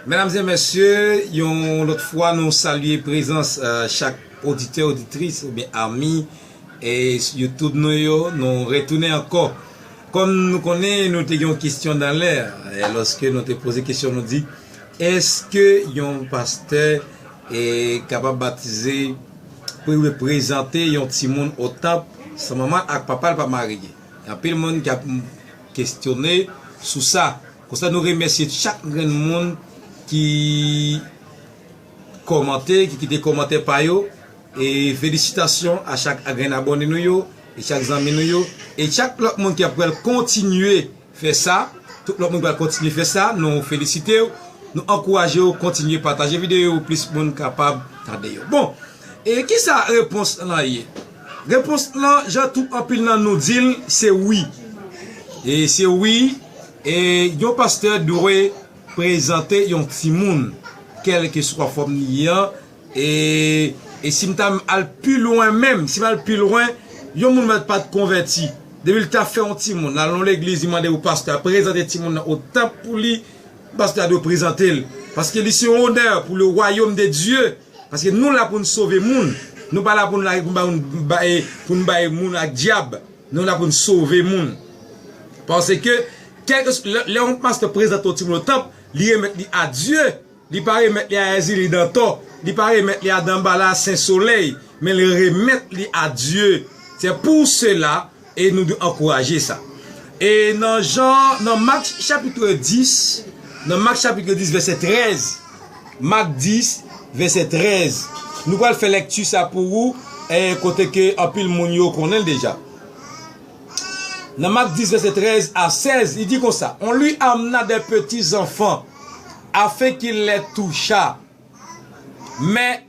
Medam e mesye, yon lòt fwa nou salye prezans chak oditè, oditris oubyen ami YouTube nou yo. Nou retounen ankò. Kòm nou konnen nou te gen yon kesyon dan lè a, lòske nou te poze kesyon nou di, eske yon pastè kapab batize, prezante yon timoun o tanp san manman ak papa l pa marye? Gen anpil moun kap kesyone sou sa. Konsa nou remèsye chak grenn moun ki kòmante, ki kite kòmantè pa yo e felisitasyon a chak grenn abòne nou yo e chak zanmi nou yo e chak lòt moun ki ap pral kontinye fè sa, tout lòt moun ki pral kontinye fè sa nou felisitew, nou ankourajew kontinye pataje videyo yo pou plis moun kapab tande yo. Bon! E kisa repons lan ye? Repons lan jan twou anpil nan nou dil se wi. E se wi e yon pastè dwe prezante yon timoun kelkeswa fòm li ye an e e sim ta al pi lwen menm, sim al pi lwen yon moun mèt pat konvèti depil ta fè yon timoun lal nan legliz li mande pou pastè a prezante timoun nan o tanp pou li pastè a dwe prezantel paske li se yon onè pou le wayom de Dye. Paske nou la poun sove moun nou pa la poun la poun bayoun baye poun baye moun ak dyab nou la poun sove moun pase ke kèlke lè yon pastè prezante yon timoun nan tanp li remèt li a Dye li pa remèt li a èzili dantò li pa remèt li a danbala sen solèy men li remèt li a Dye se pou sela E nou dwe ankouraje sa. E nan Jan, nan Mak chapitre 10, nan Mak chapitre 10 vèsè 13, Mak 10 vèsè 13, nou pral fè lèkti sa pou ou, e kote ke anpil moun yo konnen l deja. Nan Mak 10 vèsè 13 a 16, li di konsa, On lui amena des petits enfants, afin qu'il les touchât. Mais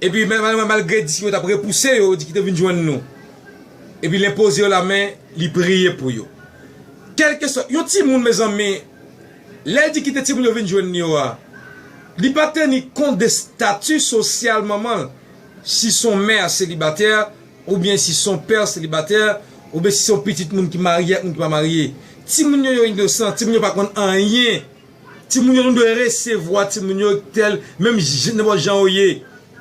Epi malgre disip yo t ap repouse yo, yo di, Kite vin jwenn nou. Epi l enpoze yo lamen, li priye pou yo. Kèlkeswa, yon timoun, mezanmi, lè l di kite timoun yo vin jwenn li yo a, li pa teni kont de stati sosyal manman l, si s on mè selibatè, oubyen si s on pè selibatè, oubyen si s on pitit moun ki marye ak moun ki pa marye. Timoun yo yo inosan, timoun yo pa konn anyen. Timoun yo nou dwe resevwa timoun yo tèl menm nenpòt jan yo ye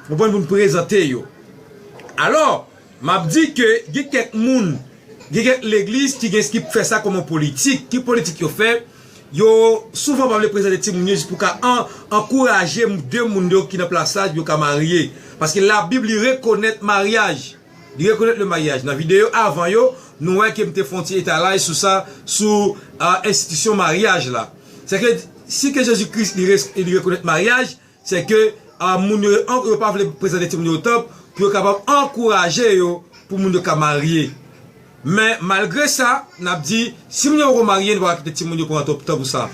ou konprann pou nou prezante yo alò map di ke gen kèk moun gen kèk legliz ki gen ki fè sa kòm yon politik ki politik yo fè yo souvan pa vle prezante timoun yo jis pou ka an ankouraje de moun yo ki nan plas la pou yo ka marye paske labib li rekonèt maryaj. Li rekonèt le maryaj. Nan videyo avan yo, nou wè ke m te fè yon ti etalaj sou sa, sou enstitisyon maryaj la. Sèke, si ke Jezi Kris li rekonèt maryaj, sèke moun yo yo pa vle prezante timoun yo o tanp pou yo kapab ankouraje yo pou moun yo ka marye. Men, malgre sa, n ap di, si moun yo poko marye, nou pa ka kite timoun yo pran tan pou sa.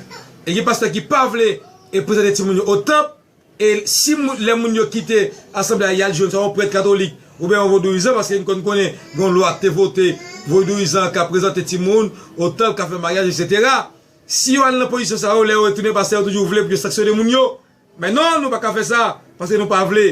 E gen pastè ki pa vle prezante timoun yo o tanp. E si lè moun yo kite asanble a yal jwenn swa yon prèt katolik oubyen yon vodouyizan paske n konn konnen gen yon lwa ki te vote vodouyizan an ka prezante timoun otan l ka fè maryaj eksetera si yo al nan pozisyon sa yo lè yo retounen pastè yo toujou vle pou yo sanksyone moun yo men non nou pa ka fè sa paske nou pa vle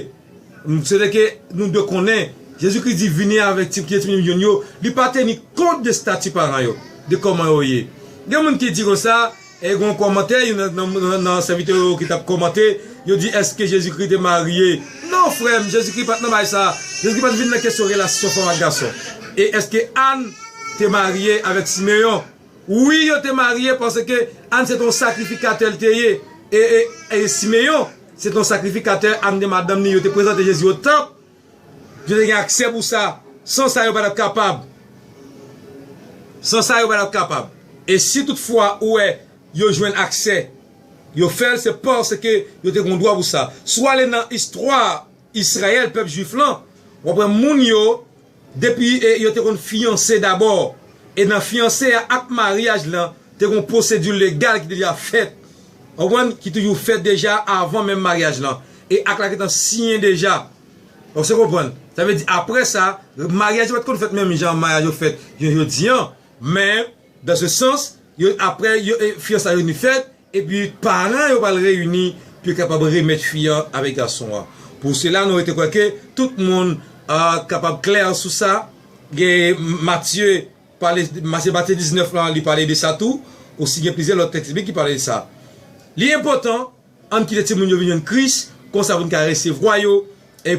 m swete ke nou dwe konnen Jezi Kris di vini avèk ti kite timoun jwenn yo li pa teni kont de stati paran yo de kòman yo ye gen moun ki di konsa. E gon kòmantè, youn nan sèvitè yo ki tap kòmante, yo di èske Jezikri te marye? Non frè m, Jezikri pat nan bagay sa a. Jezikri pat vin nan kesyon relasyon fanm ak gason. E èske Ann te marye avèk Simeyon? Wi yo te marye paske Ann se te yon sakrifikatè li te ye. E Simeyon se te yon sakrifikatè, Ann te madanm li, yo te prezante Jezi o tanp. Yo te gen aksè pou sa. San sa yo pa t ap kapab. San sa yo pa t ap kapab. E si tout fwa ou wè yo jwenn aksè, yo fè l se paske yo te gen dwa pou sa. Si w ale nan istwa Israël, pèp jwif lan, w ap wè moun yo depi yo te konn fiyanse dabò. E nan fiyanse a ak maryaj lan te gen pwosedi legal ki te deja fèt. Ou konprann? Ki toujou fèt deja avan menm maryaj lan. E ak la gentan siyen deja. Ou se konprann. Sa vle di apre sa, maryaj yo pa t konn fèt menm jan maryaj yo fèt jounen jodi an. Men, dan se sans, yo apre yo fiyansa yo vini fèt, epi paran yo pral reyini pou yo kapab remèt fi an avèk gason an. Pou sela nou rete kwè ke tout moun kapab klè sou sa. Gen Matye pale, se Matye 19 lan li pale de sa tou. Osi gen plizyè lòt tèks biblik ki pale de sa. Li enpòtan Ann kite timoun yo vin jwenn Kris, konsa pou n ka resevwa yo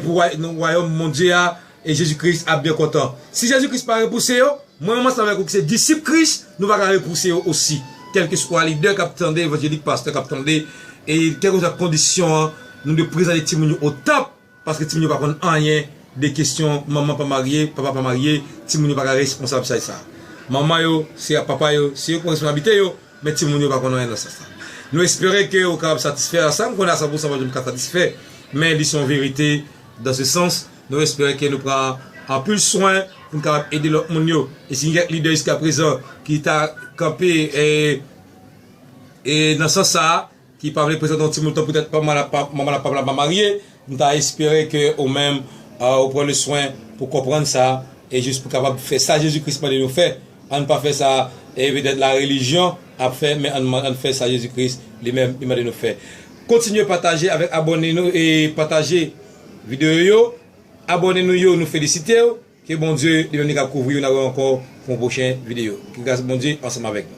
pou wayòm Bondye a, e Jezi Kris ap byen kontan. Si Jezi Kris pa repouse yo, mwen menm ansanm avèk ou ki se disip Kris, nou pa ka repouse yo osi. Kèlkeswa lidè k ap tande evanjelik, pastè k ap tande, e kèlkeswa kondisyon an, nou dwe prezante timoun yo o tanp. Paske timoun yo pa konn anyen de kesyon manman pa marye, papa pa marye, timoun yo pa ka responsab say sa. Manman yo, se a papa yo, se yo ki pran responsabilite yo, men timoun yo pa konn anyen nan sans la. Nou espere ke ou kapab satisfè a sa, m konnen a 100 pousan pa janm ka satisfè, men li se yon verite dans ce sens, nou espere ke nou pran anpil swen pou n kapab ede lòt moun yo. E si gen kèk lidè jiskaprezan ki ta kanpe nan sans sa a, ki pa vle prezante yon timoun tan pou tèt manman ak papa la pa marye, m ta espere ke ou menm ou pran le swen pou konprann sa e jis pou kapab fè sa Jezi Kris mande nou fè, ann pa fè sa e petèt la relijyon ap fè men ann fè sa Jezi Kris li menm li mande nou fè. Kontinye pataje avèk abòne nou e pataje videyo yo, abòne nou yo nou felisitew, ke Bondye li menm li kap kouvriw nan wèw ankò pou yon pwochen videyo, ke gras Bondye ansanm avèk nou.